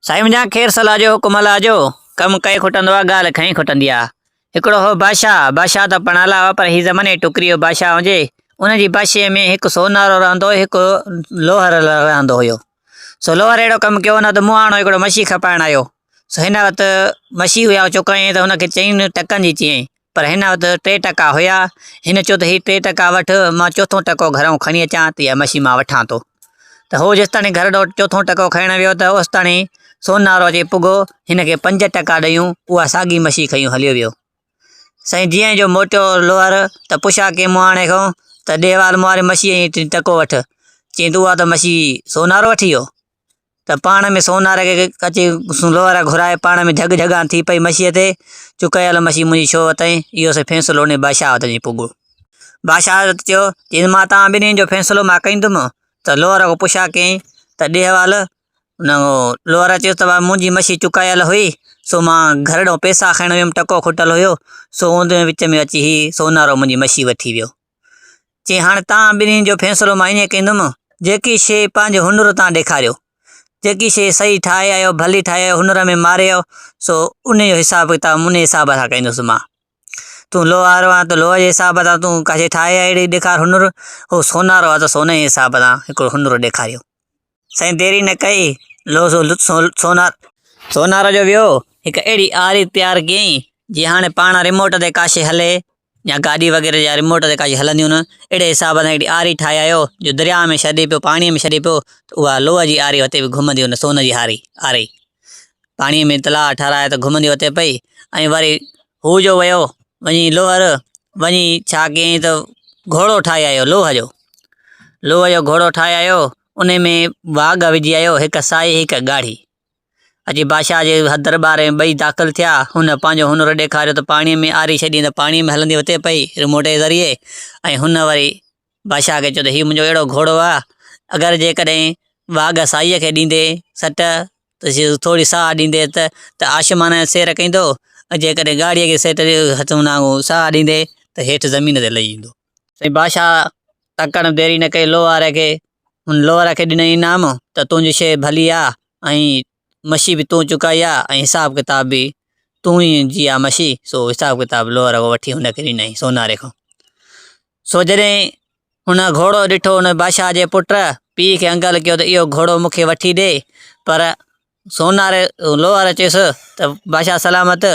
سائين منهنجا خير صلاح جو حڪم الله جو، ڪم ڪئي کٽندو آ ڳالهه کئي کٽندي آ. هڪڙو هو بادشاهه، بادشاهه ته پڻ اعليٰ هئا پر هي زمني ٽڪريو بادشاهه هجي، ان جي بادشاهي ۾ هڪ سونارو رهندو هيو هڪ لوهر رهندو هيو. سو لوهر اهڙو ڪم ڪيو نه ته مونهاڻو هڪڙو مڇي کپائڻ آيو، سو هن وقت مڇي هئي او چڪائين ته هن کي چئين ٽڪن جي چيائين، پر هن وٽ ٽي ٽڪا هيا. هن چيو ته هي ٽي ٽڪا وٺ، مان چوٿون ٽڪو گهرئون کڻي اچان ته اها مشي مان وٺان ٿو. ته هو جيستاڻي گهر ڏانهن چوٿون ٽڪو کڻڻ ويو ته اوستاڻي سونارو اچي پڳو، هن کي پنج ٽڪا ڏيئون، اها ساڳي مشي کنيون هليو ويو. سائين جيئن جو موٽيو لوهر ته پڇا ڪنهن مهاڻي کان ته ڏيهه وال مهاري مشي ۽ ٽڪو وٺ، چيائين ته اها ته مشي سونارو وٺي ويو. ته پاڻ ۾ سوناري کي ڪچي لوهارا گهرائي پاڻ ۾ جهڳ جهڳان ٿي پئي مشيء تي، چون ڪيل مشي منهنجي ڇو وتئين؟ اهو سي فيصلو اونهي بادشاهه وٽ اچي پڳو. بادشاهه حضرت چيو، جي مان توهان ٻنهين جو فيصلو مان ڪندم ته لوهارا کان پڇا ڪيائين ته ڏيهوال ان لوهارا چيس ته منهنجي مشي چڪايل هئي سو مان گهر ڏانهن پيسا کڻڻ ويم ٽڪو کٽل هيو سو اوندهه وچ ۾ اچي هي سونارو منهنجي مشي وٺي ويو. چي هاڻ توهان ٻنهي جو فيصلو مان ائين ڪندم، جيڪي شيء پنهنجي هنر تان ڏيکاريو، جيڪي شيء صحيح ٺاهي آيو، ڀلي ٺاهي آيو، هنر ۾ ماري آيو، سو انهيء جو حساب ڪتاب انهيء حساب سان ڪندس مان. تون لوهارو آهين ته لوهه جي حساب سان، تون ڪا شيء ٺاهي آيو اهڙي ڏيکار هنر، هو سونارو آهي ته سوني جي حساب سان هڪڙو هنر ڏيکاريو. سائين ديري نه ڪئي، لو سو لت سونار. سونار جو ويو، هڪ اهڙي عاري تيار ڪيائين، جيئن هاڻي پاڻ رموٽ تي ڪا شيء هلي يا گاڏي وغيره جا رموٽ تي ڪا شيء هلنديون نه، اهڙي حساب سان هڪڙي عاري ٺاهي آيو، جو درياء ۾ ڇڏي پيو، پاڻيء ۾ ڇڏي پيو، ته اها لوء جي عاري هتي به گهمندي ان سون جي عاري پاڻيء ۾ تلاء ٺارايو ته گهمندي اتي پئي ۽ وري هو جو ويو وڃي لوهر، وڃي ڇا ڪيائين ته گهوڙو ٺاهي آيو لوهه جو. لوهه جو گهوڙو ٺاهي آيو، ان ۾ واگهه وجهي آيو، هڪ سائي هڪ ڳاڙهي. اچي بادشاهه جي درٻار ۾ ٻئي داخل ٿيا، هن پنهنجو هنر ڏيکاريو ته پاڻيء ۾ آري ڇڏي ته پاڻيء ۾ هلندي اتي پئي رموٽ جي ذريعي ۽ هن وري بادشاهه کي چيو ته هي منهنجو اهڙو گهوڙو آهي، اگر جيڪڏهن واگهه سائيء کي ڏيندي سٽ ته ٿوري ساهه ڏيندي ته آشيمانه سير ڪندو ۽ جيڪڏهن ڳاڙهيء کي سٽ ساهه ڏيندي ته هيٺ زمين تي لهي ايندو. سائين بادشاهه تڪڙ ۾ ديري نه ڪئي لوهاري کي هن لوهاري کي ڏنائين انعام ته تنهنجي شيء ڀلي آهي ۽ مشي به تون چڪائي آهي ۽ حساب ڪتاب به تون ئي جي آهي مشي سو حساب ڪتاب لوهاري کان وٺي هن کي ڏنائين سوناري کان. سو جڏهن هن گهوڙو ڏٺو هن بادشاهه جي پٽ پيء کي انگل ڪيو ته اهو گهوڙو مون کي وٺي ڏي پر سونار لوهار چيس ته بادشاهه سلامت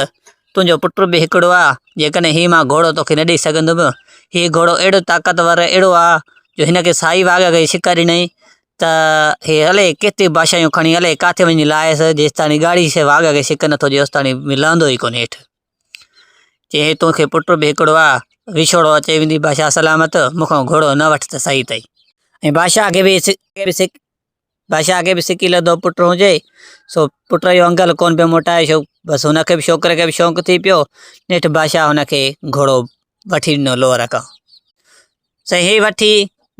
تنهنجو پٽ به هڪڙو آ جيڪڏهن هي مان گهوڙو توکي نه ڏئي سگهندم هي گهوڙو اهڙو طاقتور اهڙو آ جو هن کي سائي واگهه کي ڇڪ ڏنائين ته هي الائي ڪيتريون بادشاهيون کڻي الائي ڪاٿي وڃي لاهيس جيستاڻي ڳاڙهي شيء واگهه کي ڇڪ نٿو ڏئي اوستاڻي لهندو ئي ڪونهي هيٺ. چي هي تون کي پٽ به هڪڙو آ، وڇوڙو اچي ويندي بادشاهه سلامت، مون کان گهوڙو نه وٺ ته صحيح تئي. ۽ بادشاهه کي به بادشاهه کي به سڪي لڌو پٽ هجي، سو پٽ جو انگل ڪونه پيو موٽائي شو، بس هن کي به ڇوڪري کي به شوق ٿي پيو، نيٺ بادشاهه هن کي گهوڙو وٺي ڏنو لوهه رقم. صحيح وٺي،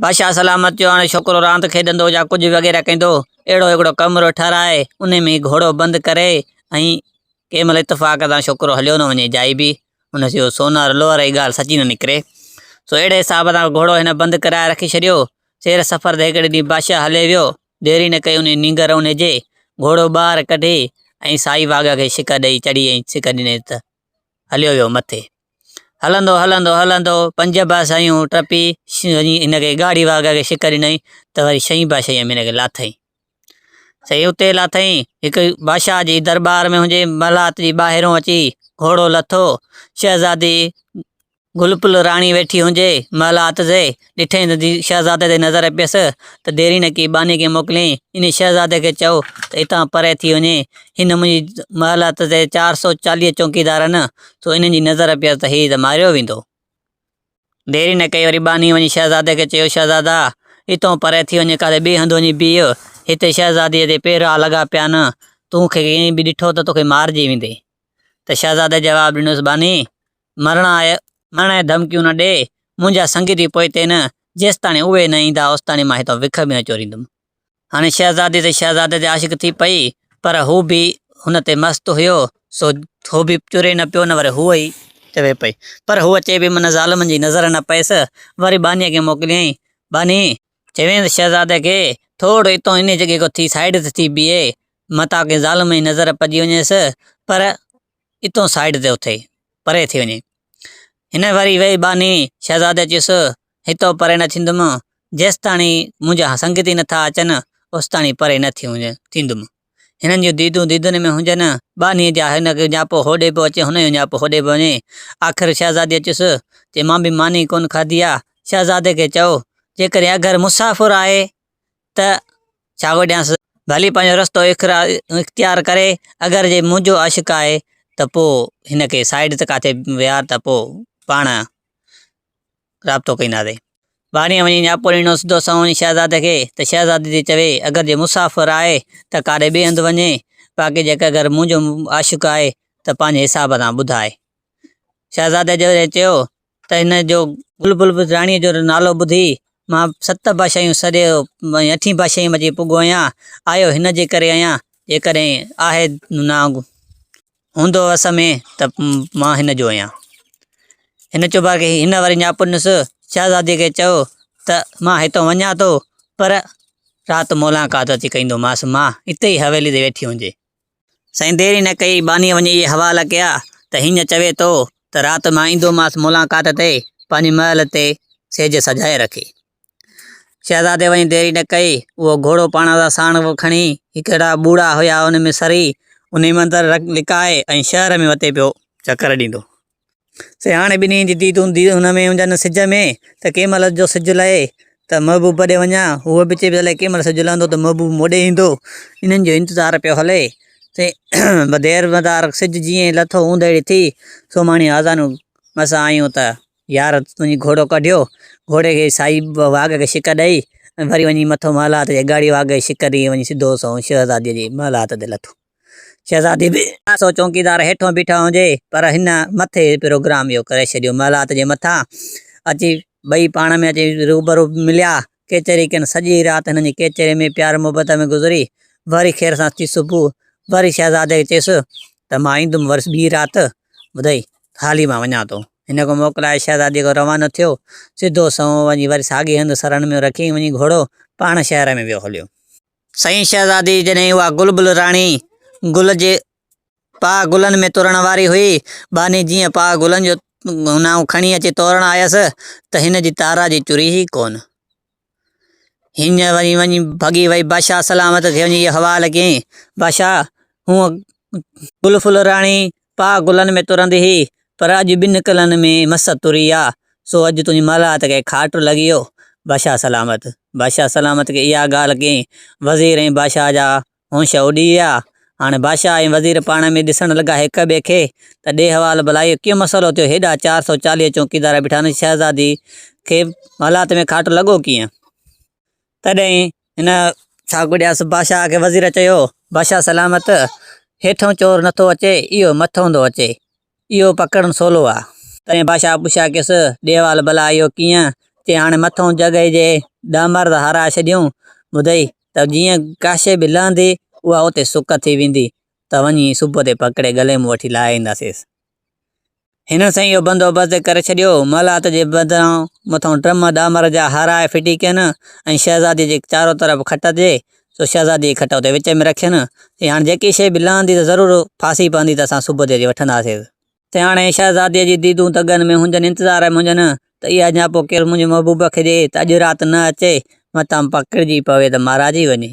بادشاهه سلامت جو هاڻي ڇوڪرو راند کيڏندو يا ڪجهه وغيره ڪندو، اهڙو هڪڙو ڪمرو ٺهرائي، انهي ۾ گهوڙو بند ڪري ۽ ڪنهن مهل اتفاق سان ڇوڪرو هليو نه وڃي جائي به هن سيو سونار لوهر هي ڳالهه سچي نه نڪري. سو اهڙي حساب سان گهوڙو هن بند ڪرائي رکي ڇڏيو. سير سفر تي هڪڙي ڏينهن بادشاهه هلي ويو، ديري نه ڪئي انهي نينگر انهي جي گهوڙو ٻاهر ڪڍي ۽ سائي واگهه کي ڇڪ ڏئي چڙهي ۽ ڇڪ ڏني ته هليو ويو مٿي. هلندو هلندو هلندو پنج باسايون ٽپي ان کي ڳاڙهي واڳ کي شڪ ڏنائين ته وري شئين باسائيء ۾ ان کي لاٿائين. سائين اتي لاٿائين هڪ بادشاهه جي درٻار ۾ هنجي محلات جي ٻاهرون اچي گهوڙو لٿو شهزادي گل پل راڻي ويٺي هونجي، مهل آتزي، ڏٺئي ته شهزادي تي نظر پيس ته ديرينه ڪي ٻانهي کي موڪلين، انهي شهزادي کي چئو ته اتان پري ٿي وڃي، هن منهنجي مهل آتزي چار سؤ چاليهه چونڪيدارن سو انهن جي نظر پيس ته هي ته ماريو ويندو. ديرينه ڪئي وري ٻانهي وڃي شهزادي کي چيو شهزادا! اتئون پري ٿي وڃي ڪاٿي ٻئي هنڌ وڃي بيهه، هتي شهزاديء تي پيرها لڳا پيا آهن، تون کي ڪنهن به ڏٺو ته توکي مارجي ويندي. ته شهزادي جواب ڏنس ٻانهي! مرڻ آء، مرڻ آء ڌمڪيون نه ڏي، منهنجا سنگتي پوئتي نه، جيستاڻي اهي نه ايندا اوستاڻي مان هتان وک به نه چوريندم. هاڻي شهزادي تي شهزادي تي عاشق ٿي پئي، پر هو به هن تي مست هيو، سو هو به چوري نه پيو نه وري هوء ئي چوي پئي، پر هوء چئي پئي من ظالمن جي نظر نه پئيس، وري ٻانهيء کي موڪليائين، ٻانهي! چوينس شهزادي کي، ٿورڙو اتان انهيء جڳهه کان ٿي سائيڊ تي ٿي بيهه، متان ڪنهن ظالم جي نظر پڄي وڃيس، پر اتون سائيڊ تي اٿئي، پري ٿي وڃي. هن وري ويهي ٻانهي شهزادي چيس، هتئون پري نه ٿيندم، جيستاڻي منهنجا سنگتي نه ٿا اچن، اوستاڻي پري نه ٿيندم. هنن جون ديدون ديدن ۾ هجن، ٻانهي جا هن کي ڃاپو هوڏي پيو اچي، هن جو ڃاپو هوڏي پيو وڃي. آخر شهزاديء چيس، چي مان به ماني ڪونه کاڌي آ، شهزادي کي چئو، جيڪڏهن اگر مسافر آهي، ته ڇاگو ڏيانس. ڀلي پنهنجو رستو اختيار ڪري، اگر جي منهنجو عاشق آهي ته پوء هن کي سائيڊ تي ڪاٿي ويهار ته پوء پاڻ رابطو ڪينداسين. ٻاهريان وڃي ڄاپوريڻو سڌو سنئون وڃي شهزادي کي ته شهزادي تي چوي، اگر جي مسافر آهي ته ڪاڏي ٻئي هنڌ وڃي، باقي جيڪر اگر منهنجو عاشق آهي ته پنهنجي حساب سان ٻڌاء. شهزادي جڏهن چيو ته هن جو گل بلبل راڻيء جو نالو ٻڌي، مان ست بادشاهيون سري ۽ اٺين بادشاهيء ۾ اچي پڳو آهيان. آيو هن جي ڪري آهيان، جيڪڏهن آهي نانگ هوندو وس ۾ ته مان هن جو آهيان. هن چيو باقي هن وري نياپنس شهزاديء کي چيو ته مان هتان وڃان ٿو، پر رات ملاقات اچي ڪندومانس، مان هتي ئي حويليء تي ويٺي هجي. سائين دير ئي نه ڪئي، ٻانهيء وڃي اهي حوالا ڪيا ته هينئن چوي ٿو ته رات مان ايندومانس ملاقات تي، پنهنجي محل تي سيج سجائي رکي. شهزادي وڃي دير ئي نه ڪئي، اهو گهوڙو پاڻ سان ساڻ کڻي، هڪڙا ٻوڙا هيا ان ۾ سري، انهيء ۾ اندر لڪائي ۽ شهر ۾ وتي پيو چڪر ڏيندو. سياڻي ٻنهي جي ديد هوندي هن ۾ هوندا آهن سج ۾، ته ڪنهن مهل جو سج لهي ته محبوب ڏي وڃان، هوء به چئي پئي الائي ڪنهن مهل سج لهندو ته محبوب مون ڏي ايندو، انهن جو انتظار پيو هلي ته دير مدار سج جيئن ئي لٿو اوندهيڙي ٿي، سومهاڻي آذانون مس آيون ته يار تنهنجي گهوڙو ڪڍيو، گهوڙي کي سائي واڳ کي شڪ ڏئي ۽ وري وڃي مٿو محل هات جي اڳاڙي واڳ کي شڪ ڏئي وڃي سڌو سنئون شهزاديء جي محل هات تي لٿو. شهزادي به آسو چونڪيدار هيٺون بيٺا هجي پر هن مٿي پروگرام اهو ڪري ڇڏيو. محلات جي مٿان اچي ٻئي پاڻ ۾ اچي روبرو مليا. ڪيچري ڪين سڄي رات هنن جي ڪيچري ۾ پيار محبت ۾ گذري. وري خير سان ٿي صبح وري شهزادي چيس ته مان ايندم وري ٻي رات ٻڌئي ته هالي مان وڃان ٿو. هن کون موڪلائي شهزادي کان روانو ٿيو. سڌو سنئون وڃي وري ساڳي هنڌ سرن ۾ رکي وڃي گهوڙو پاڻ شهر ۾ ويو هليو. سائين شهزادي جڏهن اها گل بل راڻي گل جي پاء گلن ۾ ترڻ واري هئي، ٻانهي جيئن پاء گلن جو نانء کڻي اچي تورڻ آيس ته هن جي تارا جي چري ئي ڪونه. هينء وري وڃي ڀڳي وئي بادشاهه سلامت کي وڃي اهو حوال ڪيائين، بادشاهه هونء گل ڦل راڻي پاء گلن ۾ ترندي هي، پر اڄ ٻن ڪلن ۾ مس تري آ، سو اڄ تنهنجي مالات کي کاٽ لڳي هو. بادشاهه سلامت بادشاهه سلامت کي اها ڳالهه ڪئين، وزير ۽ بادشاهه جا هونش اڏي ويا. هاڻي بادشاهه ۽ وزير پاڻ ۾ ڏسڻ لڳا هڪ ٻئي کي، ته ڏي حوال ڀلا اهو ڪيئن مسئلو ٿيو، هيڏا چار سؤ چاليهه چونڪيدار بيٺا آهن، شهزادي کي مالات ۾ کاٽ لڳو ڪيئن؟ تڏهن هن ساگوڏياس بادشاهه کي وزير چيو، بادشاهه سلامت، هيٺئون چور نٿو اچي، اهو مٿئون ٿو اچي، اهو پڪڙڻ سولو آ. تڏهن بادشاهه پڇياڪيس، ڏيوال ڀلا اهو ڪيئن؟ چي هاڻي مٿئون جڳ هي جي ڏهه مرد هاراء ڇڏيون، ٻڌئي، ته جيئن ڪاشي به لهندي، اها اتي سڪ ٿي ويندي، ته وڃي صبح تي پڪڙي ڳلي مون وٺي لاهي اينداسينس. هنن سائين اهو بندوبست ڪري ڇڏيو، مالات جي بدران مٿان ٽم ڏامر جا هارائي ڦٽي ڪين ۽ شهزاديء جي چارو طرف کٽ هجي سو شهزاديء جي کٽ اتي وچ ۾ رکين، چي هاڻي جيڪي شيء به لهندي ته ضرور ڦاسي پوندي ته اسان صبح جو اچي وٺنداسين. چي هاڻي شهزاديء جي ديدون تڳن ۾ هجن، انتظار ۾ هجن ته اها اڃا پوء ڪير منهنجي محبوب کي ڏئي ته اڄ رات نه اچي، متان پڪڙجي پوي ته مارائجي وڃي.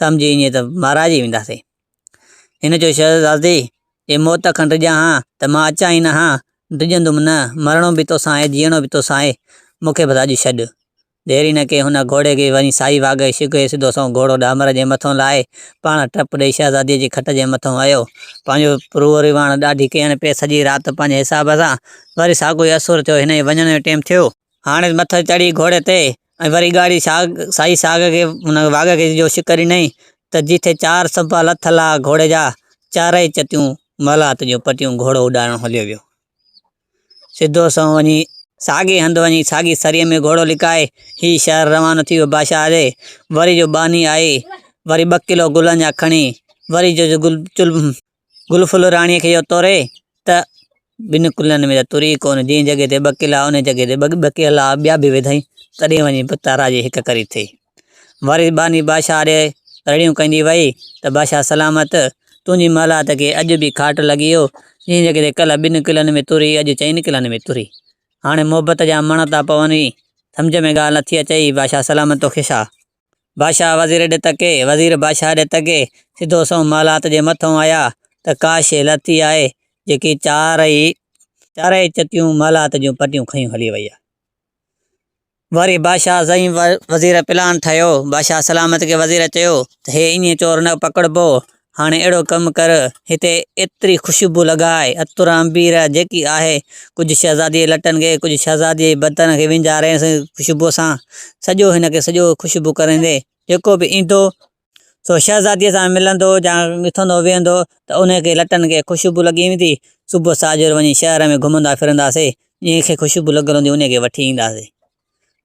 سمجهي اڃي ته مارائجي وينداسين. هن چيو، شهزادي! جي موت کن ڊڄان ها ته مان اچان ئي نه ها، ڊڄندم نه، مرڻو به توسان آهي، جيئڻو به توسان آهي، مون کي بس اڄ ڇڏ. دير ئي نه ڪئي، هن گهوڙي کي وڃي سائي واگهي شگهي سڌو سنئون گهوڙو ڏامر جي مٿئون لاهي، پاڻ ٽپ ڏيئي شهزاديء جي کٽ جي مٿئون ايو، پنهنجو روح رواڻ ڏاڍي ڪيڻ پئي، سڄي رات پنهنجي حساب سان، وري ساڳيو ئي اسور ٿيو، هن جي وڃڻ جو ٽيم ٿيو. هاڻيس مٿس چڙهي گهوڙي تي ۽ وري ڳاڙهي سائي ساڳ کي واڳ کي جو شڪر ڏنائين ته جيٿي چار سنبا لٿ لاء گهوڙي جا، چارئي چتيون مولات جون پٽيون گهوڙو اڏارڻ هليو ويو. سڌو سنئون وڃي ساڳئي هنڌ وڃي ساڳي سريء ۾ گهوڙو لڪائي هي شهر روانو ٿي ويو بادشاهه جي وري جو ٻانهي آئي وري ٻه ڪلو گلن جا کڻي وري جو گل ڦل راڻيء کي يو توري ته، ٻن قلعن ۾ ته تر ئي ڪونه، جنهن جڳهه تي ٻه قلعا انهيء جڳهه تي ٻه قلعا ٻيا به وڌائين، تڏهن وڃي به تاراج جي هڪ ڪري ٿئي. وري ٻانهي بادشاهه آڏي رڙيون ڪندي وئي ته، بادشاهه سلامت! تنهنجي محلات کي اڄ به کاٽ لڳي يو، جنهن جڳهه تي ڪلهه ٻن قلعن ۾ تر هئي، اڄ چئن قلعن ۾ تر هئي. هاڻي محبت جا مڻ ٿا پون ئي، سمجهه ۾ ڳالهه نٿي اچئي، بادشاهه سلامت توکي شاهه! بادشاهه وزير ڏي تڪي، وزير بادشاهه ڏي تڪي، سڌو سنئون محلات جي مٿئون آيا ته ڪا شيء لٿي آهي، جيڪي چارئي چارئي چتيون محلات جون پٽيون کنيون هلي وئي آهي. وري بادشاهه زئين وزير پلان ٺاهيو، بادشاهه سلامت کي وزير چيو ته هي ايئن چور نه پڪڙبو، هاڻي اهڙو ڪم ڪر، هتي ايتري خوشبو لڳاء، عطر عنبير جيڪي آهي، ڪجهه شهزاديء جي لٽن کي، ڪجهه شهزاديء جي بدن کي وينجهارينس خوشبوء سان. سڄو هن کي سڄو خوشبو ڪريندي. جيڪو به ايندو، سو شهزاديء سان ملندو يا اٿندو ويهندو ته ان کي لٽن کي خوشبو لڳي ويندي. صبح ساجهر وڃي شهر ۾ گهمندا ڦرنداسين، جنهن کي خوشبو لڳل هوندي، انهيء کي وٺي اينداسين.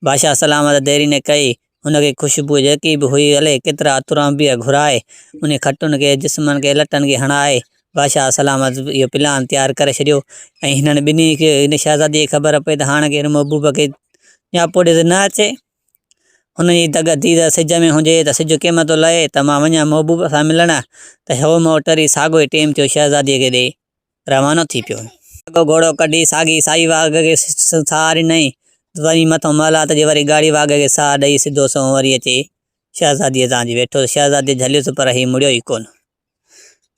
بادشاهه سلامت ديري نه ڪئي، ان کي خوشبوء جيڪي به هئي هلي، ڪيترا عطر انبيا گهرائي، انهي کٽن کي، جسمن کي، لٽن کي هڻائي، بادشاهه سلامت اهو پلان تيار ڪري ڇڏيو ۽ هنن ٻنهي کي، هن شهزاديء کي خبر پئي ته هاڻ ڪير محبوبه کي نياپو ڏيندي نه اچي، هن جي دڳ ٿي ته سج ۾ هجي ته سج ڪيم ٿو لهي ته مان وڃان محبوبه سان ملڻ ته هو مئو ٽري ساڳيو ئي ٽيم ٿيو شهزاديء کي ڏئي. روانو ٿي پيو. ساڳو گهوڙو ڪڍي ساڳي سائي واڳ کي ساهه ڏنائين، وري مٿو محلات جي وري ڳاڙهي واڳ کي ساهه ڏئي سڌو سنئون وري اچي شهزاديء سان اچي ويٺو ته شهزادي جهليس پر هي مڙيو ئي ڪونه.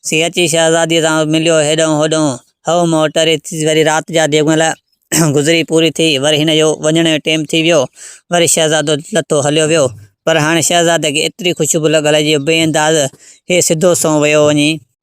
سي اچي شهزاديء سان مليو، هيڏانهن هوڏانهن هئو مئو ٽري ٿي وري رات جا ديڳ مهل گذري پوري ٿي وري هن جو وڃڻ جو ٽيم ٿي ويو، وري شهزادو لٿو هليو ويو پر هاڻي شهزادي کي ايتري خوشبو لڳل هئي جو بي انداز هي سڌو سنئون ويو وڃي.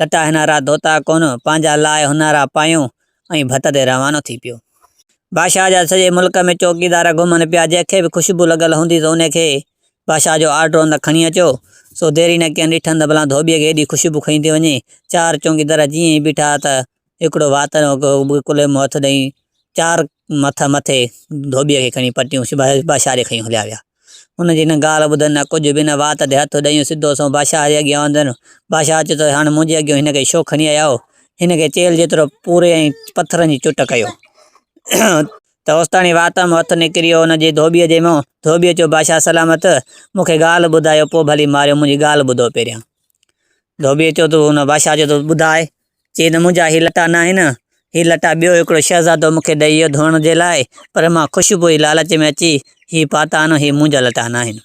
لٽا هنارا ڌوتا ڪون، پنهنجا لاء هنارا پايون، ۽ ڀت تي روانو ٿي پيو. بادشاهه جا سڄي ملڪ ۾ چوڪيدار گهمن پيا، جنهن کي به خوشبو لڳل هوندي سو انهي کي بادشاهه جو آرڊر هوندي ته کڻي اچو. سو ديري نه ڪين، ڏٺن ته ڀلا ڌوٻيء کي ايڏي خوشبو کڻي ٿي وڃي. چار چوڪيدار جيئن ئي بيٺا ته هڪڙو وات ۾ هو ڪلهي مون هٿ ڏئي، چار مٿ مٿي ڌوٻيء کي کڻي پٽيون سبائي بادشاهه ڏي کڻي هليا ويا. هن جي نه ڳالهه ٻڌن نه ڪجهه به نه وات تي هٿ ڏئي سڌو سنئون بادشاهه جي اڳيان آندن. بادشاهه چيو ته هاڻ منهنجي اڳيئون هن کي ڇو کڻي آيا آهيو؟ هن کي چيل جيترو پوري ۽ پٿرن جي چٽ ڪيو ته اوستاڻي وات مان هٿ نڪريو هن جي ڌوٻيء جي منهن. ڌوٻيء چيو بادشاهه سلامت، مون کي ڳالهه ٻڌايو پوء ڀلي ماريو منهنجي ڳالهه ٻڌو پهريان. ڌوٻيء چيو ته هن بادشاهه چيو ته ٻڌاء چيو ته منهنجا هي لٽا ناهن، هي لٽا ٻيو هڪڙو شهزادو مون کي ڏئي ويو ڌوئڻ جي لاء، پر مان خوشبوء جي لالچ ۾ اچي هي پاتا آهن، هي منهنجا لٽا ناهن.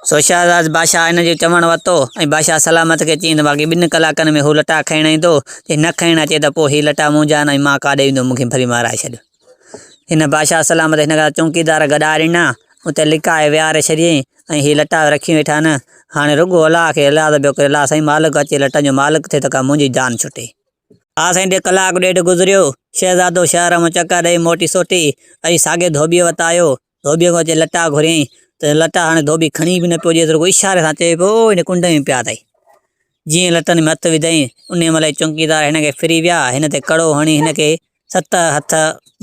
سو شهزاد بادشاهه هن جو چوڻ ورتو ۽ بادشاهه سلامت کي چيائين ته باقي ٻن ڪلاڪن ۾ هو لٽا کڻڻ ايندو، جي نه کڻڻ اچي ته پوء هي لٽا منهنجا آهن ۽ مان ڪاڏي ويندو، مون کي ڀلي مارائي ڇڏ. هن بادشاهه سلامت هن کان چونڪيدار گڏها ڏنا، اتي لڪائي ويهاري شڏيائين ۽ هي لٽا رکي ويٺا نه، هاڻي رڳو الاهه کي الاهه ته ٻيو ڪير الاهه سائين مالڪ اچي لٽن جو مالڪ ٿئي ته ڪا منهنجي جان ڇٽي. ها سائين ڏي ڪلاڪ ڏيڍ گذريو، شهزادو شهر مان چڪر ڏئي موٽي سوٽي ۽ ساڳي ڌوٻيء وٽ آيو، ڌوٻيء کان اچي لٽا گهريائين ته لٽا هاڻي ڌوٻي کڻي به نه پيو ڏيس، رڳو اشاري سان چئي پيو، او هن ڪنڊ ۾ پيا اٿئي. جيئن لٽن ۾ هٿ وڌائين، انهيء مهل ئي چونڪيدار هن کي ڦري ويا، هن تي ڪڙو هڻي هن کي ست هٿ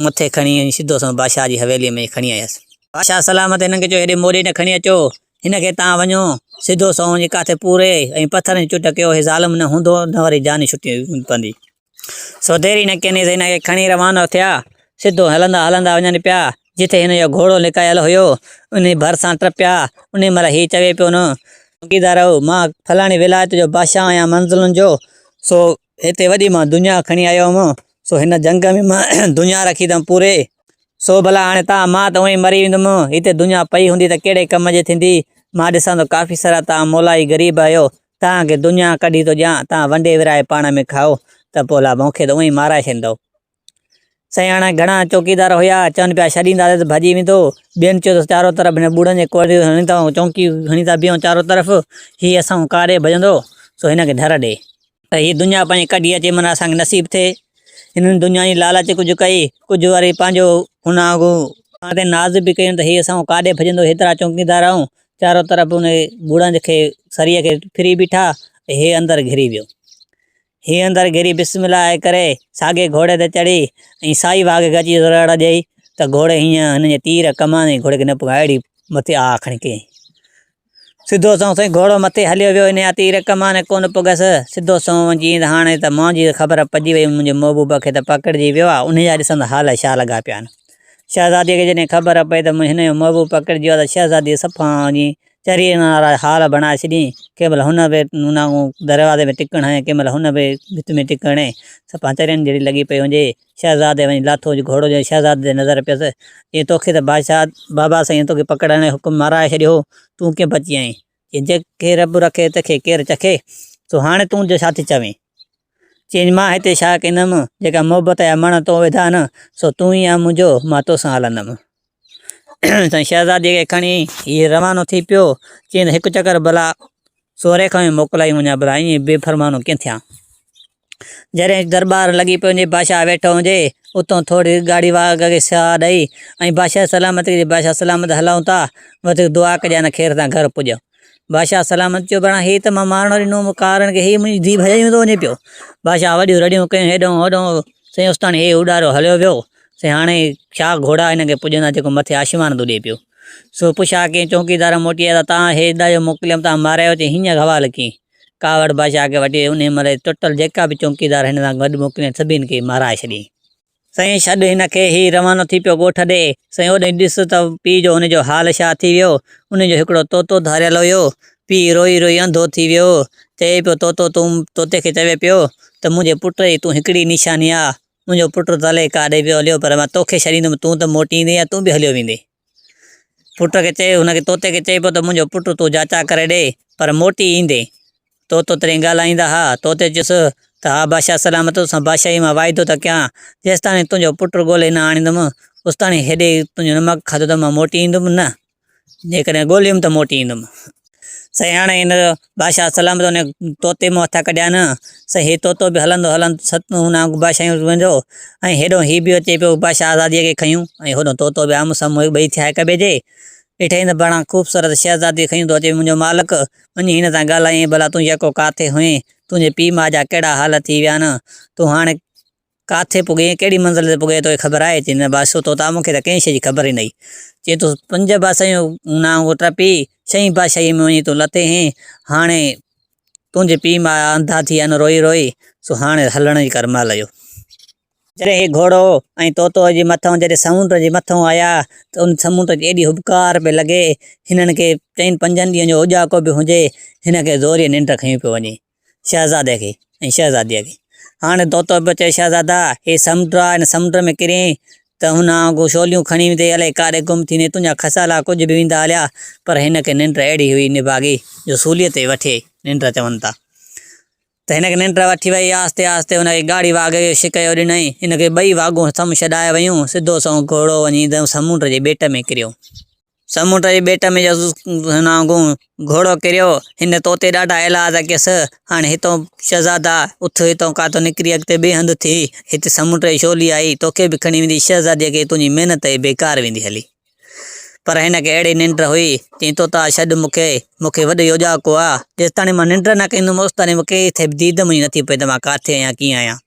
مٿي کڻي وڃي سڌو سنئون بادشاهه جي حويليء ۾ کڻي آيس. بادشاهه سلامت هنن کي چيو، هيڏي موري نه کڻي اچو، هن کي تان وڃو، سڌو سنئون وڃي ڪاٿي پوري ۽ پٿرن جي چٽ ڪيو، هي ظالم نه هوندو نه وري جاني ڇٽي پوندي. سوتيري نڪي نيز هن کي کڻي روانو ٿيا. سڌو هلندا هلندا وڃن پيا، جتي هن جو گهوڙو لڪايل هيو، انهي ڀرسان ٽپيا. انهي مهل هي چوي پيو نه. چوڪيدار او، مان فلاڻي ولايت جو بادشاهه آهيان منزلن جو، سو هتي وڏي مان دنيا کڻي آيو هوم، سو هن جنگ ۾ مان دنيا رکي اٿم پوري، سو ڀلا هاڻي تان مان ته اونئي مري ويندم، هتي دنيا پئي هوندي ته ڪهڙي ڪم جي ٿيندي، مان ڏسان ٿو ڪافي سارا تان مولائي غريب آهيو، تان کي دنيا ڪڍي ٿو ڏيان، تان ونڊي ورهائي پاڻ ۾ کائو ته پولا مون کي ته اونئين مارائي ڇڏيندؤ. سياڻا گهڻا چوڪيدار هيا، چون پيا ڇڏينداسين ته ڀڄي ويندو. ٻين چيو ته چارو طرف هن ٻوڙن جي ڪوڙيون هڻي ٿا ۽ چونڪي هڻي ٿا بيهون چارو طرف، هي اسان کان ڪا ڏي ڀڄندو، سو هن کي ڍر ڏي. ته هيء دنيا پنهنجي ڪڍي اچي معنيٰ اسان کي نصيب ٿئي. هنن دنيا جي لالچ ڪجهه ڪئي، ڪجهه وري پنهنجو ان وانگون اسان تي ناز به ڪيون ته هي اسان کان ڪا ڏي ڀڄندو، هيترا چوڪيدار آهيون، چارو طرف ان ٻوڙنج کي سريء کي ڦري بيٺا ۽ هي اندر گهري ويو. هي اندر گهري بسم الله آء ڪري ساڳي گهوڙي تي چڙهي ۽ سائي واگهه کي اچي زرڙ ڏئي ته گهوڙي هينئن هن جي تير ڪمان ۽ گهوڙي کي نه پڳهيا اهڙي مٿي آء کڻي ڪيائين. سڌو سنئون سائين گهوڙو مٿي هليو ويو هن جا تير ڪمان ڪونه پڳهيس. سڌو سنئون وڃي چيائين ته هاڻي ته مانجهي خبر پئجي وئي منهنجي محبوب کي ته پڪڙجي ويو آ انهيء جا ڏسندا حال ڇا لڳا پيا آهن. شهزاديء کي جڏهن خبر پئي ته هن جو محبوب پڪڙجي ويو آهي ته شهزاديء صفا هن جي چريء ۾ آرائي هار بڻائي ڇڏيائين. ڪنهن مهل هن به هن وانگون دروازي ۾ ٽڪڻ هنيو ۽ ڪنهن مهل هن به ڀت ۾ ٽڪڻ هنئي. صفا چرين جهڙي لڳي پئي هئجي. شهزاديء وڃي لاٿو جو گهوڙو جنهن شهزادي تي نظر پيس، چيائين، توکي ته بادشاهه بابا سائينء توکي پڪڙڻ جو حڪم مارائي ڇڏيو هو، تون ڪيئن بچي آئين؟ جنهن کي رب رکي تکي ڪير چکي. سو هاڻي تون جو ڇا ٿي چوين. چيائين مان هتي ڇا ڪندم جيڪا محبت جا مڻ تون وڌا نه سو تون ئي آن منهنجو مان توسان هلندم. سائين شهزادي کي کڻي هي روانو ٿي پيو چيائين ته هڪ چڪر ڀلا سوري کان ئي موڪلائي وڃان ڀلا ائين بي فرمانو ڪيئن ٿيان. جڏهن درٻار لڳي پنهنجي بادشاهه ويٺو هجي اتون ٿوري ڳاڙهي واڳ کي ساهه ڏئي ۽ بادشاهه سلامت ڪجي بادشاهه سلامت هلون ٿا وڌيڪ دعا ڪجي ان خير سان گهر پڄ بادشاهه سلامت چيو بڻا هي ته مان مارڻو ڏنو مون ڪارڻ کي هي منهنجي ڌيء ڀڄائي ويندو وڃي پيو بادشاهه وڏيون رڙيون ڪيون هيڏون هوڏون سائين استاڻي هي اڏارو هليو ويو سائين هاڻي ڇا گهوڙا هن کي پڄندا جيڪو مٿي آشيوان ٿو ڏي پيو سو پڇا ڪيئن چونڪيدار موٽي آيا ته تان هي ڏايو موڪليم تان مارايو چي هينئن حوال ڪيئن ڪاوڙ بادشاهه کي وٺي ويو. انهيء مهل ٽوٽل جيڪا به چونڪيدار هن سان گڏ موڪليون هيون، سڀني کي مارائي ڇڏيائين. سائين ڇڏ هن کي، هي روانو ٿي پيو ڳوٺ ڏي. سائين اوڏانهن ڏس ته پيء جو هن جو حال ڇا ٿي ويو. انهيء جو هڪڙو طوطو ڌاريل هيو. پيء روئي روئي انڌو ٿي ويو. چئي پيو طوطو تون طوطي کي چوي پيو ته منهنجي پٽ جي تون هڪڙي ئي نشاني آ. منهنجو پٽ ته الائي ڪاڏي پيو هليو پر مان توکي ڇڏيندم تون ته موٽي ايندين يا تون به هليو ويندين. پٽ کي چيو، هن کي طوطي کي چئبو ته منهنجو پٽ تون جاچاء ڪري ڏي، پر موٽي ايندين. طوطو ترين ڳالهائيندا ها. طوطي چيس ته ها بادشاهه سلامت، تو سان بادشاهيء مان واعدو ٿو ڪيان، جيستاڻي تنهنجو پٽ ڳولي نه آڻيندم، اوستاڻي هيڏي تنهنجو نمڪ کاڌو ته مان موٽي ايندم نه، جيڪڏهن ڳوليم ته موٽي ايندم. سياڻي هن جو بادشاهه سلام ٿو انهيء طوطي مون هٿان ڪڍيان نه، سائين هي طوطو به هلندو هلندو ست هن آڱ بادشاهيون روئين جو ۽ هيڏهون هي به اچي پيو بادشاهه آزاديء کي کنيون ۽ هوڏهون طوطو به آمهون سامهون هڪ ٻئي ٿيا هڪ ٻئي جي ڏٺئين ته بڻان خوبصورت شهزادي کنيون ٿو اچي منهنجو مالڪ، وڃي هن سان ڳالهايئين ڀلا تون يڪو ڪاٿي هئين؟ تنهنجي پيء ماء جا ڪهڙا حال ٿي ويا آهن؟ تون هاڻي. ڪاٿي پڳين ۽ ڪهڙي منزل تي پڳين توکي خبر آهي؟ چيائين، نه بادشاهه توتان مون کي ته ڪنهن شيء جي خبر ئي ناهي. چيائين، تون پنج بادشاهيون نانگ ۽ ٽپي، ڇهين بادشاهيء ۾ وڃي تون لٿين هين، هاڻي تنهنجي پيء ماء انڌا ٿي ويا آهن روئي روئي، سو هاڻي هلڻ جي ڪر مهل اهو. جڏهن هي گهوڙو ۽ طوطو جي مٿان جڏهن سمنڊ جي مٿان آيا ته ان سمنڊ کي ايڏي هٻڪار پئي لڳي، هنن کي چئن پنجن ڏينهن جو اوڄاڪو به هجي، هن کي زوريء ننڊ کنيون پيو وڃي. شهزادي کي ۽ شهزاديء کي. هاڻي طوطو پيو چوي، شهزادا! هي سمنڊ آ، هن سمنڊ ۾ ڪرين ته هن آنگون شوليون کڻي ويندي، الائي ڪاڏي گم ٿيندي، تنهنجا کسالا ڪجهه به ويندا هليا. پر هن کي ننڊ اهڙي هئي نڀاڳي، جو سوليء تي وٺي ننڊ چون ٿا، ته هن کي ننڊ وٺي ويئي. آهستي آهستي هن کي ڳاڙهي واگهي جو شڪيو ڏنائين. هن کي ٻئي واگهون سم ڇڏائي ويون. سڌو سنئون گهوڙو وڃي سمنڊ جي ٻيٽ ۾ ڪريو. سمنڊ جي ٻيٽ ۾ جس نانگو گهوڙو ڪريو، هن طوطي ڏاڍا ايلاز ڪيس، هاڻي هتئون شهزادا اٿ، هتئون ڪاتو نڪري اڳتي ٻئي هنڌ ٿي، هتي سمنڊ جي ڇولي آئي، توکي به کڻي ويندي، شهزاديء کي تنهنجي محنت ئي بيڪار ويندي هلي. پر هن کي اهڙي ننڊ هئي، چيائين، طوطا ڇڏ مون کي، مون کي وڏي اوڄاڪو آ، جيستاڻي مان ننڊ نه ڪندم، اوستاڻي مون کي ڪٿي به ديد منهنجي نٿي پوي ته مان ڪاٿي آهيان، ڪيئن آهيان.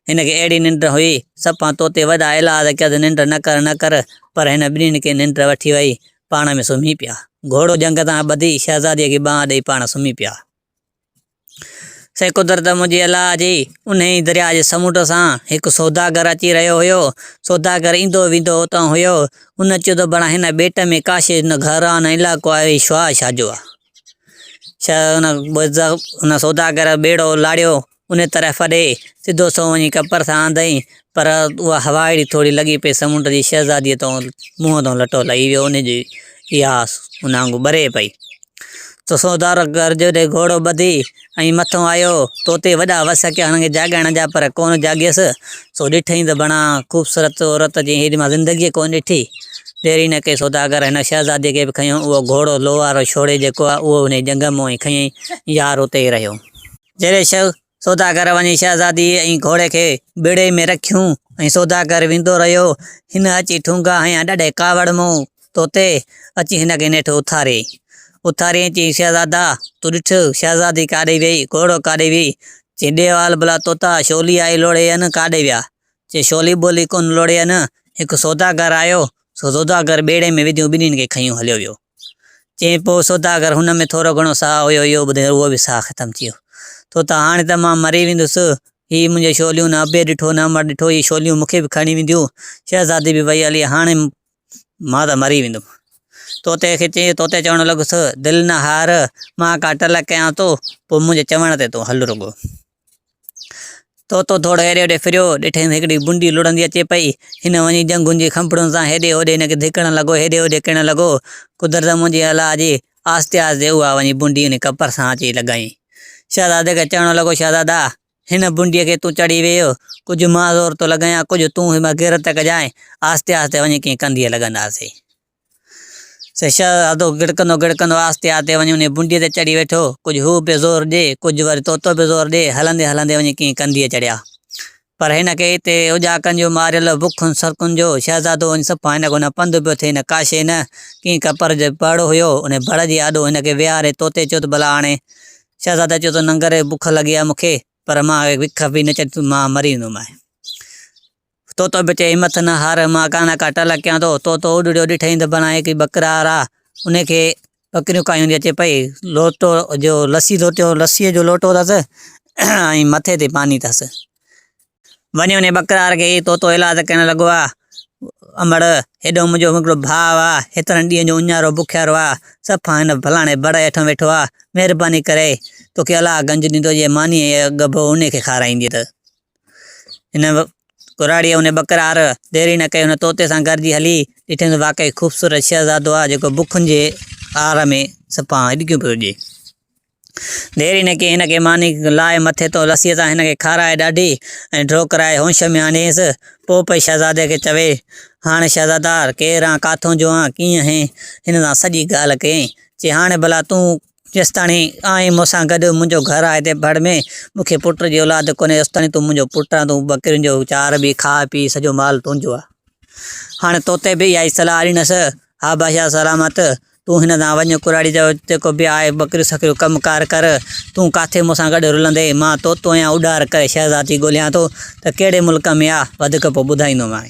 هن کي اهڙي ننڊ هئي، سپهان توتي وڏا ايلاز ڪيس ننڊ نه ڪر نه ڪر، پر هن ٻنهين کي ننڊ وٺي وئي، پاڻ ۾ سمهي پيا. گهوڙو جهنگ تان ٻڌي شهزاديء کي ٻانهن ڏيئي پاڻ سمهي پيا. سي قدرت منهنجي الله جي، انهيء درياء جي سمنڊ سان هڪ سوداگر اچي رهيو هيو. سوداگر ايندو ويندو اتان هيو. ان چيو ته بڻا هن ٻيٽ ۾ ڪاشي نه گهر آ نه علائقو آ، هي شاهه شاهه جو آ. شاهه ان سوداگر ٻيڙو لاڙيو، انهيء طرف ڏي سڌو سنئون وڃي ڪپر سان آندائين، پر اها هوا اهڙي ٿوري لڳي پئي، سمنڊ جي شهزاديء تان منهن تان لٽو لهي ويو، ان جي اها آس ان آڱو ٻري پئي. سو سودار گرجو ڏي گهوڙو ٻڌي ۽ مٿو آيو، توتي وڏا وس ڪيا، هن کي جاڳائڻ جا، پر ڪونه جاڳيس، سو ڏٺئين ته بڻا خوبصورت عورت جيئن هيڏي مان زندگيء ڪونه ڏٺي. دير ئي نه ڪئي سوداگر هن شهزاديء کي به کنيو، اهو گهوڙو لوهارو ڇوڙي جيڪو آهي، اهو انهيء جهنگ مان ئي کنيائين، يار اتي ئي رهيو. جيڏي شيخ سوداگر وڃي شهزاديء ۽ گهوڙي کي ٻيڙي ۾ رکيون ۽ سوداگر ويندو رهيو. هن اچي ٺونگا هنيا، ڏاڍي ڪاوڙ مون توتي، اچي هن کي نيٺ اٿاري. اٿاري ۽ چيائين، شهزادا! تون ڏٺ، شهزادي ڪاڏي ويئي، گهوڙو ڪاڏي ويئي؟ چي، ڏي وال ڀلا توتا، شولي آئي لوڙهي ان، ڪاڏي ويا؟ چي، شولي ٻولي ڪونه لوڙهي ان، هڪ سوداگر آيو، سو سوداگر ٻيڙي ۾ وڌيون ٻنهين کي کنيون هليو ويو. چيائين، پوء سوداگر، هن ۾ ٿورو گهڻو ساهه هيو، اهو ٻڌي اهو به ساهه ختم ٿي ويو. ٿو ته هاڻي ته مان مري ويندس. هي منهنجي شوليون نه ابي ڏٺو نه امڙ ڏٺو، هي شوليون مون کي به کڻي وينديون. شهزادي به وئي هلي. هاڻي مان ته مري ويندم. طوطي کي چيائين، طوطي چوڻ لڳس، دل نه هار، مان ڪا ٽلهه ڪيان ٿو، پوء منهنجي چوڻ تي تون هل رڳو. طوطو ٿورو هيڏي هوڏي ڦريو، ڏٺائين ته هڪڙي بونڊي لڙهندي اچي پئي. هن وڃي جهنگن جي کنڀڻين سان هيڏي هوڏي هن کي ڌڪڻ لڳو، هيڏي هوڏي ڪرڻ لڳو. قدرت منهنجي الاء جي، آهستي آهستي اها وڃي بونڊي هن جي ڪپر سان اچي لڳائين. شهزادي کي چوڻ لڳو، شهزادا! هن بونڊيء کي تون چڙهي ويهه، ڪجهه مان زور ٿو لڳايان، ڪجهه تون هن مان غيرت ڪجانء، آهستي آهستي وڃي ڪنهن ڪنڌيء لڳنداسين. شهزادو گڙڪندو گڙڪندو آهستي آهستي وڃي انهيء بنڊيء تي چڙهي ويٺو. ڪجهه هو به زور ڏي، ڪجهه وري طوطو به زور ڏي، هلندي هلندي وڃي ڪنهن ڪنڌيء چڙهيا. پر هن کي هتي اجاڪن جو ماريل، بکن سرڪن جو، شهزادو وڃي صفا هن کان نه پنڌ پيو ٿئي نه ڪاشي نه ڪنهن ڪپر جو بڙ هيو. انهيء بڙ جي آڏو هن کي ويهاري طوطي چيو ته ڀلا هاڻي شهزاده چيو ته ننگر بک لڳي آهي مون کي، پر مان وک به نه چڙهندس، مان مري ويندومانء. طوطو به چئي همٿ نه هار، مان ڪا نه ڪا ٽل ڪيان ٿو. طوطو اڏڙيو، ڏٺئي ته بڻائي هڪڙي ٻڪرا را، ان کي ٻڪريون ڪاهيون هوندي اچي پئي. لوٽو جو لسي لوٽيو، لسيء جو لوٽو اٿس ۽ مٿي تي پاڻي اٿس. وڃي وڃي ٻڪرا را ڪيئي، طوطو ايلاز ڪرڻ لڳو آ، امڙ! هيڏو منهنجو هڪڙو ڀاء آ، هيترن ڏينهن جو اڃارو بکيارو آ، صفا هن ڦلاڻي بڙ هيٺان ويٺو آ، مهرباني ڪري توکي الله گنج ڏيندو، جي مانيء جي اڳ ڀو ان کي کارائيندينء ته. هن ڪراڙيء انهيء ٻڪرار، ديري نه ڪئي هن طوطي سان گڏجي هلي ڏٺيائين ته واقعي خوبصورت شهزادو آهي، جيڪو بکن جي آر ۾ سپاهان هڏڪيون پيو ڏئي. ديري نه ڪئي هن کي ماني لاء مٿي تان رسيء سان هن کي کارائي ڏاڍي ۽ ڍو ڪرائي هوش ۾ آنديس. پوء پئي شهزادي کي چوي، هاڻ شهزادا! ڪير آن، ڪاٿون جو آن، ڪيئن آهين؟ هن سان سڄي ڳالهه ڪيائين. چي، هاڻي ڀلا تون جيستاڻي آن آهين مون سان گڏ، منهنجو گهر آهي هتي ڀڙ ۾، مون کي پٽ جي اولاد ڪونهي، اوستاڻي تون منهنجو پٽ آن، تون ٻڪرين جو چار ڀي، کاء پيء، سڄو مال تنهنجو آ. هاڻي تو تي به اها ئي صلاح ڏنس. ها بادشاهه سلامت، تون هن سان وڃ، ڪراڙي جو جيڪو به آهي، ٻڪريون سڪريون ڪم ڪار ڪر، تون ڪاٿي مون سان گڏ رلندين، مان تو توهين اڏار ڪري شهزادي ڳولهيان ٿو ته ڪهڙي ملڪ ۾ آ، وڌيڪ پوء ٻڌائيندومانء.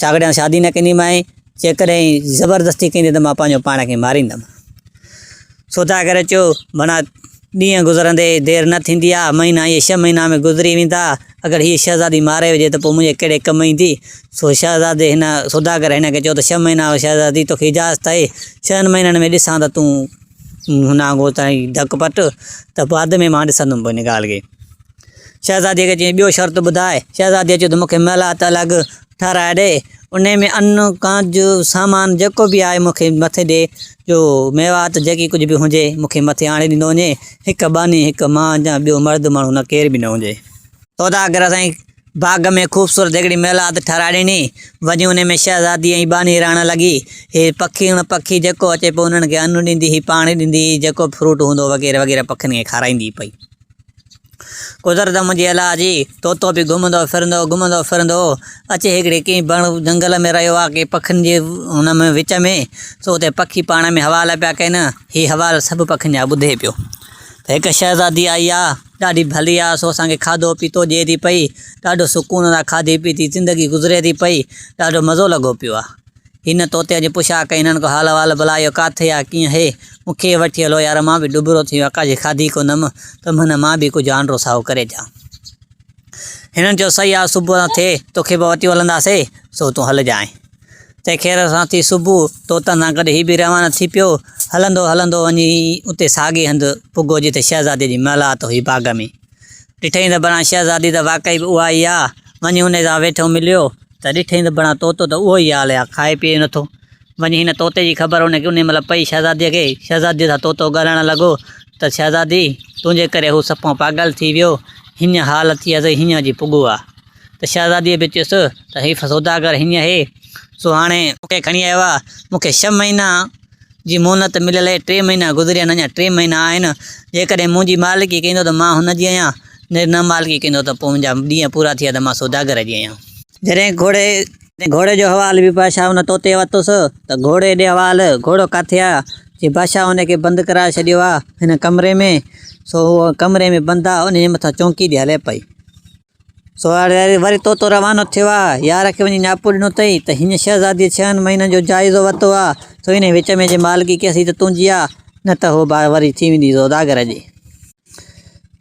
ڇاڪڙي آء شادي نه ڪنديمانء، جيڪڏهن هي زبردستي ڪندي ته مان پنهنجو پاڻ کي ماريندم. سوڌا ڪري اچو، ڀڻا ڏينهن گذرندي دير نه ٿيندي آ، مهينا ائين ڇهه مهينا ۾ گذري ويندا، اگر هيء شهزادي ماري وجهي ته پوء منهنجي ڪهڙي ڪم ايندي؟ سو شهزادي هن سوڌا ڪري هن کي چيو ته ڇهه مهينا شهزادي توکي اجازت آهي، ڇهن مهينن ۾ ڏسان ته تون هن آنگو تائين ڌڪ پٽ ته بعد ۾ مان ڏسندم پوء ان ڳالهه کي. شهزاديء کي چيائين، ٻيو شرط ٻڌاء. شهزاديء چيو ته مون کي محلات الڳ ٺهرائي ڏي، انهيء ۾ ان ڪان جو سامان جيڪو به آهي مون کي مٿي ڏي، جو ميوات جيڪي ڪجهه به هجي مون کي مٿي آڻي ڏنو وڃي، هڪ ٻانهي، هڪ مان جا ٻيو مرد ماڻهو نه ڪير به نه هجي. سوداگر سائين باغ ۾ خوبصورت هڪڙي محلات ٺهرائي ڏني، وڃي انهيء ۾ شهزادي ۽ ٻانهي رهڻ لڳي، هي پکي اڻ پکي جيڪو اچي پيو انهن کي ان ڏيندي هئي، پاڻي ڏيندي هئي، جيڪو به فروٽ هوندو هو وغيره وغيره پکين کي کارائيندي پئي. گذر ته منهنجي الاهه جي، طوطو به گهمندو ڦرندو، گهمندو ڦرندو اچي هڪڙي ڪنهن بڻ، جهنگل، ۾ رهيو آهي، ڪنهن پکين جي ان ۾ وچ ۾، سو اتي پکي پاڻ ۾ حوال پيا ڪين، هي حوال سڀ پکين جا ٻڌي پيو، ته هڪ شهزادي آئي آهي، ڏاڍي ڀلي آهي، سو اسان کي کاڌو پيتو ڏئي ٿي پئي، ڏاڍو سڪون سان کاڌي پيتي زندگي گذري ٿي پئي، ڏاڍو مزو لڳو پيو آهي. هن طوطي جي پڇا ڪئي، هنن ڪو حال احوال بلا اهو ڪاٿي آ ڪيئن هي؟ مون کي وٺي هلو يار مان به ڏٻرو ٿي ويو آقا جي کاڌي ڪو نم ته منهن مان به ڪجهه آنڊرو سائو ڪري جا. هنن چيو سهي آ صبح سان ٿئي توکي به وتيون هلنداسي سو تون هلجانء. تنهن خير سان ٿي صبح طوطن سان گڏ هي به روانا ٿي پيو. هلندو هلندو وڃي اتي ساڳي هنڌ پڳو جتي شهزادي جي محلات هئي باغ ۾. ڏٺئين ته بڻان شهزادي ته واقعي به اها ئي آ. وڃي انهي سان ويٺو مليو ته ڏٺئين ته بڻان طوطو ته اهو ئي حال آ، کائي پيئي نٿو. وڃي هن طوطي جي خبر ان انهي مهل پئي شهزاديء کي. شهزاديء سان طوطو ڳالهائڻ لڳو ته شهزادي! تنهنجي ڪري هو سپهون پاڳل ٿي ويو. هينئن حال ٿي آ سي هينئن جي پڳو آ. ته شهزاديء به چيس ته هي سوداگر هينئن هي سو هاڻي مون کي کڻي آيو آ. مون کي ڇهه مهينا جي مهنت مليل اهي ٽي مهينا گذريا آهن اڃا ٽي مهينا آهن جيڪڏهن منهنجي مالڪي ڪيندو ته مان هن جي آهيان جڏهن نه مالڪي ڪيندو ته پوء منهنجا ڏينهن پورا ٿيا ته مان سوداگر جي آهيان. جڏهن گهوڙي گهوڙي جو حوال به بادشاهه ان طوطي ورتس ته گهوڙي ڏي حوال گهوڙو ڪاٿي آ جي بادشاهه ان کي بند ڪرائي ڇڏيو آ هن ڪمري ۾ سو هو ڪمري ۾ بند آ ان جي مٿان چونڪي ڏي هلي پئي. سوار ياري وري تو تو روانو ٿيو آ. يار کي وڃي نياپو ڏنو اٿئي ته هن شهزاديء ڇهن مهينن جو جائزو ورتو آ، سو انهيء وچ ۾ جي مالڪي ڪيسين ته تنهنجي آ، نه ته هوء بار وري ٿي ويندي زوداگر جي.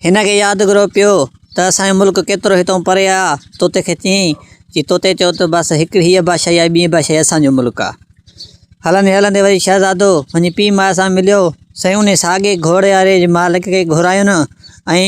هن کي يادگرو پيو ته اسان جو ملڪ ڪيترو هتئون پري آ. توتي کي چيائين، جي توتي چئو ته بس هڪڙي هيء بادشاهي آهي، ٻيئي بادشاهي اسان جو ملڪ آ. هلندي هلندي وري شهزادو وڃي پيء ماء سان مليو. سائين انهيء ساڳئي گهوڙياريء جي مالڪي کي گهرايون ۽.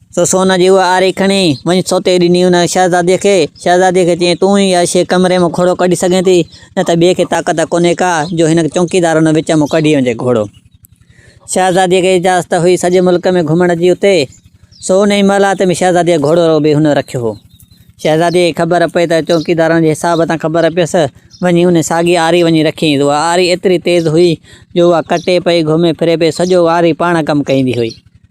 سو سون جي اها آري کڻي، وڃي سوٽي ڏني ان شهزاديء کي. شهزاديء کي چيائين، تون ئي اهي شيء ڪمري مان گهوڙو ڪڍي سگهين ٿي، نه ته ٻئي کي طاقت ڪونهي ڪا، جو هن چونڪيدار ان وچ مان ڪڍي وڃي گهوڙو. شهزاديء کي اجازت هئي سڄي ملڪ ۾ گهمڻ جي اتي، سو انهيء محلات ۾ شهزاديء گهوڙو رڳو بي هن رکيو هو. شهزاديء کي خبر پئي ته چونڪيدارن جي حساب تان خبر پيس، وڃي ان ساڳي آري وڃي رکيائينس. اها آري ايتري تيز هئي، جو اها ڪٽي پئي، گهمي ڦري پئي، سڄو آري پاڻ ڪم ڪيندي هئي.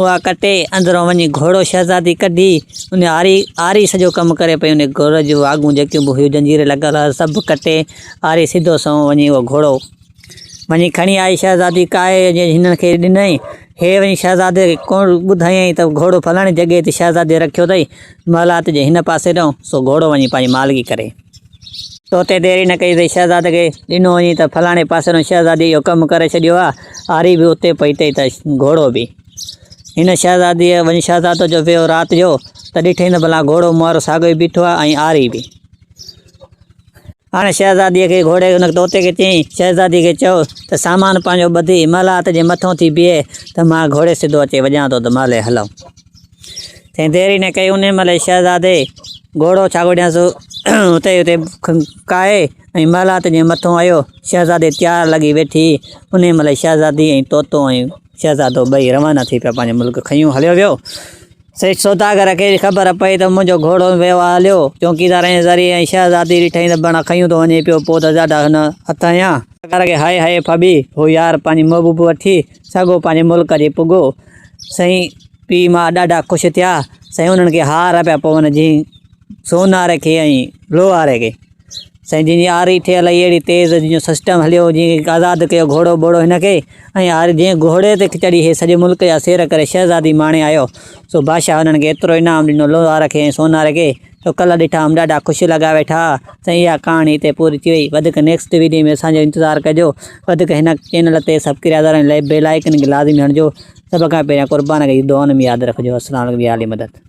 اها ڪٽي، اندرون وڃي گهوڙو شهزادي ڪڍي، ان آري، آري سڄو ڪم ڪري پئي، ان گهوڙي جون واڳون جيڪيون به هيون زنجيري لڳل هئس، سڀ ڪٽي، آري سڌو سنئون وڃي اهو گهوڙو وڃي کڻي آئي شهزادي ڪاهي ۽ هنن کي ڏنائين. هي وڃي شهزادي کي ڪوڻ ٻڌايائين ته گهوڙو فلاڻي جڳهي تي شهزادي رکيو اٿئي، محلات جي هن پاسي ڏانهن، سو گهوڙو وڃي پنهنجي مالڪي ڪري. تو تي ديري نه ڪئي تي شهزاد کي ڏنو وڃي ته فلاڻي پاسي نو شهزادي اهو ڪم ڪري ڇڏيو آ. آري به اتي پهتي ته گهوڙو به. هن شهزادي وڃي شهزادو جو ويو رات جو ته ڏٺئين ته ڀلا گهوڙو مهارو ساڳيو ئي بيٺو آ ۽ آري به. هاڻي شهزادي کي گهوڙي ان طوطي کي چيائين شهزادي کي چئو ته سامان پنهنجو ٻڌي محلات جي مٿئون ٿي بيهي ته مان گهوڙي سڌو اچي وڄان ٿو ته محلي هلئون. ٿين دير ئي نه ڪئي، انهيء مهل ئي شهزادي گهوڙو ڇاڳوڏينس اتي ئي کائي ۽ محلات جي مٿون آيو. شهزادي تيار لڳي ويٺي، انهيء مهل ئي شهزادي ۽ طوطو ۽ شهزادو ٻئي روانا ٿي پيا پنهنجي ملڪ کنيون هليو ويو. سيٺ سوداگر کي خبر پئي ته منهنجو گهوڙو ۽ ويو آ هليو. چوڪيدار ۽ زري ۽ شهزادي ڏٺائين ته بڻ کنيون ٿو وڃي پيو، پوء ته جاڏا هن هٿ هنيا. سوداگر کي هائي هائي ڦٻي، هو يار پنهنجي محبوب وٺي سگهو پنهنجي ملڪ جي پڳو سائين پيء ماء ڏاڍا خوش ٿيا. سائين انهن کي هار پيا پون جئين سونهاري کي ۽ لوهاري کي. سائين جئين جي آري ٺهيل هئي اهڙي تيز جئين جو سسٽم هليو جئين آزاد ڪيو گهوڙو ٻوڙو هن کي ۽ آري جئين گهوڙي تي چڙهي هي سڄي ملڪ جا سير ڪري شهزادي ماڻي آيو سو بادشاهه انهن کي ايترو انعام ڏنو لوهار کي ۽ سونهاري کي ٽڪلا ڏٺا ھئم ڏاڍا خوش لڳا ويٺا سائين اھا ڪھاڻي ھتي پوري ٿي وئي وڌيڪ نيڪسٽ ويڊيو ۾ اسان جو انتظار ڪجو وڌيڪ ھن چينل تي سبڪريادر ۽ بيل آئيڪن کي لازمي ھڻجو سڀ کان پھريان قربان کي دعائن ۾ ياد رکجو السلام عليڪم يا علي مدد.